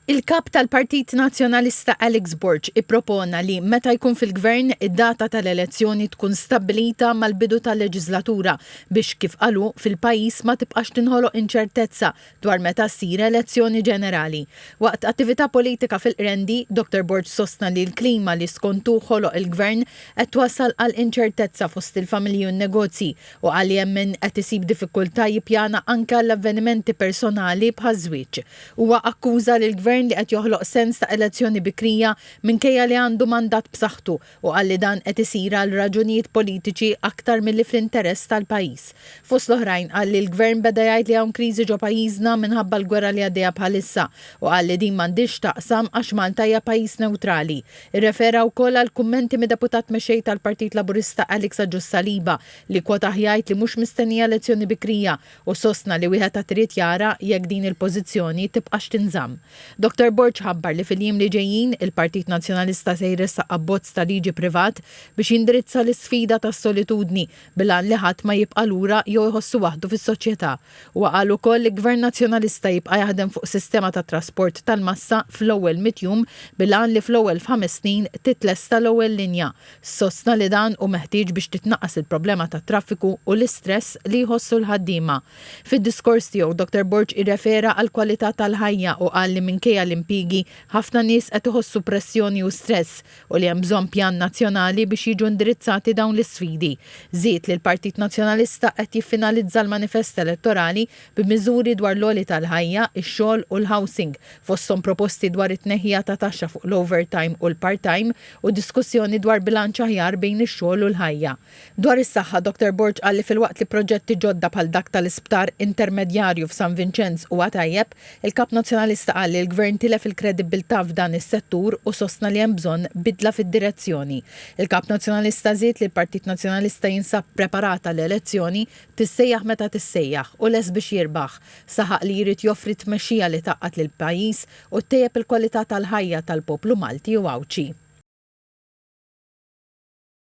Il-Kap tal-Partit Nazzjonalista Alex Borg ippropona li, meta jkun fil-Gvern, id-data tal-elezzjoni tkun stabbilita mal-bidu tal-leġislatura biex, kif qal hu, fil-pajjiż ma tibqax tinħoloq inċertezza dwar meta ssir elezzjoni ġenerali. Waqt attività politika fil-Qrendi, Dottor Borg sostna li l-klima li skont hu ħoloq il-Gvern qed twassal għal inċertezza fost il-familji u n-negozji u qal li hemm min qed isib diffikultà jippjana anke għal avvenimenti personali bħaż-żwieġ. Huwa akkuża lill-Gvern li qed joħloq sens ta' elezzjoni bikrija minkejja li għandu mandat b'saħħtu u qal li dan qed isir għal raġunijiet politiċi aktar milli fl-interess tal-pajjiż. Fost l-oħrajn qal li l-Gvern beda jgħid li hawn kriżi ġo pajjiżna minħabba l-gwerra li għaddejja bħalissa u qal li din m'għandhiex x'taqsam għax Malta hija pajjiż newtrali. Irrefera wkoll għall-kummenti mid-Deputat Mexxej tal-Partit Laburista Alex Agius Saliba li kkwotaħ jgħid li mhux mistennija elezzjoni bikrija u sostna li wieħed għad irid jara jekk din il-pożizzjoni tibqax tinżamm. Dottor Borg ħabbar li fil-jiem li ġejjin, il-Partit Nazzjonalista se jressaq abbozz ta' liġi privat biex jindirizza l-isfida tas-solitudni bil-għan li ħadd ma jibqa' lura jew iħossu waħdu fis-soċjetà. Huwa qal ukoll li Gvern Nazzjonalista jibqa' jaħdem fuq sistema ta' trasport tal-massa fl-ewwel mitt jum bil-għan li fl-ewwel f'ħames snin titlesta l-ewwel linja. Sostna li dan hu meħtieġ biex titnaqqas il-problema tat-traffiku u l-istress li jħossu l-ħaddiema. Fid-diskors tiegħu, Dottor Borg irrefera għall-kwalità tal-ħajja u qal li minkejja l-impjiegi, ħafna nies qed iħossu pressjoni u stress. u li hemm bżonn pjan nazzjonali biex jiġu indirizzati dawn l-isfidi. Żied li l-Partit Nazzjonalista qed jiffinalizza l-manifest elettorali b'miżuri dwar l-għoli tal-ħajja, ix-xogħol u l-housing, fosthom proposti dwar it-tneħħija ta' taxxa fuq l-overtime u l-part-time u diskussjoni dwar bilanċ aħjar bejn ix-xogħol u l-ħajja. Dwar is-saħħa, Dottor Borg qal li filwaqt li proġetti ġodda bħal dak tal-isptar intermedjarju f'San Vinċenz huwa tajjeb, il-Kap Nazzjonalista qal li l-Gvern tilef il-kredibbiltà f'dan is-settur u sostna li hemm bżonn bidla fid-direzzjoni. Il-Kap Nazzjonalista żied li l-Partit Nazzjonalista jinsab preparat għal elezzjoni, tissejjaħ meta tissejjaħ, u lest biex jirbaħ. Saħaq li jrid joffri tmexxija li tgħaqqad lill-pajjiż u ttejjeb il-kwalità tal-ħajja tal-poplu Malti u Għawdxi.